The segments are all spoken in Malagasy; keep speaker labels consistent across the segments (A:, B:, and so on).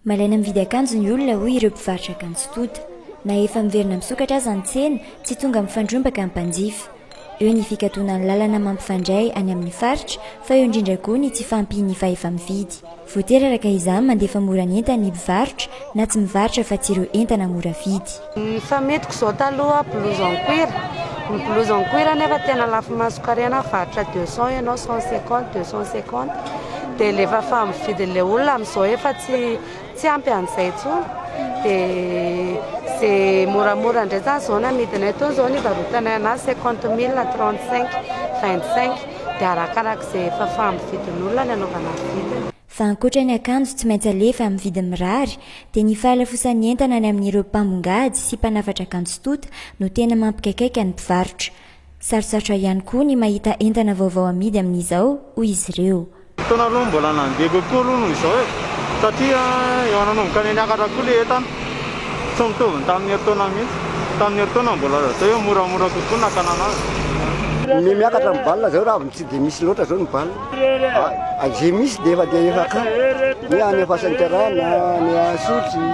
A: Malaina mividy akanjo ny olona hoy ireo mpivarotra akanjo tonta. Na efa miverina misokatra aza ny tsena, tsy tonga mifandrombaka ny mpanjifa. Eo ny fikatonan'ny lalana mampifandray any amin'ny faritra fa eo indrindra koa ny tsy fahampian'ny fahefa-mividy. Voatery araka izany mandefa mora ny entany ny mpivarotra na tsy mivarotra fa tsy ireo entana mora vidy. Ny fametiko izao
B: taloha blouse en cuir, ny blouse en cuir nefa tena lafo maso kary na mivarotra deux cent ianao cent cinquante, deux cent cinquante dia alefa fa amin'ny vidin'ilay olona amin'izao efa tsy tsy ampy an'izay intsony dia ze moramora indray zany izao ny amidinay teo izao ny hivarotanay anazy cinquante mille, trente cinq, vingt cinq. Dia arakaraka izay efa fahambo-vidin'olona ny anaovana vidiny. Fa ankoatra ny
A: akanjo tsy maintsy alefa amin'ny vidiny mirary dia ny fahalafosan'ny entana any amin'ireo mpambongady sy mpanafatra akanjo tonta no tena mampikaikaika ny mpivarotra. Sarotsarotra ihany koa ny mahita entana vaovao amidy amin'izao, hoy izy ireo. Fotoana aloha mbola
C: nandeha kokoa aloha noho izao e! satria efa nanomboka niakatra koa ilay entana, tsy mitovy ny tamin'ny herintaona mihitsy, tamin'ny herintaona mbola atao hoe moramora kokoa ny nakanana azy. Ny
D: miakatra ny bal zao raha avy tsy dia misy loatra zao ny bal, izay misy dia efa dia efa akany, ny any Ampasanterana, ny Isotry,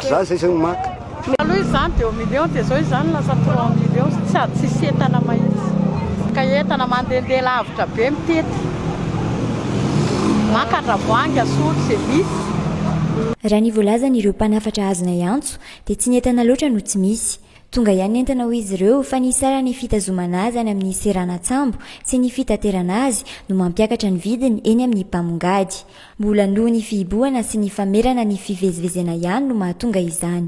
D: zany zay zao no maka. Taloha izy izany deu
E: millions dia izao izy izany lasa trois millions sady tsisy entana mahitsy. Ka entana mandehandeha lavitra be mitety maka andravoahangy asotry izay misy. Raha ny
A: voalazan ireo mpanafatra azonay antso dia tsy ny entana loatra no tsy misy. Tonga ihany ny entana hoy izy ireo fa ny hisara ny fitazomana azy any amin'ny seranatsambo sy ny fitaterana azy no mampiakatra ny vidiny eny amin'ny mpamongady. Mbola noho ny fihibohana sy ny famerana ny fivezivezena ihany no mahatonga izany.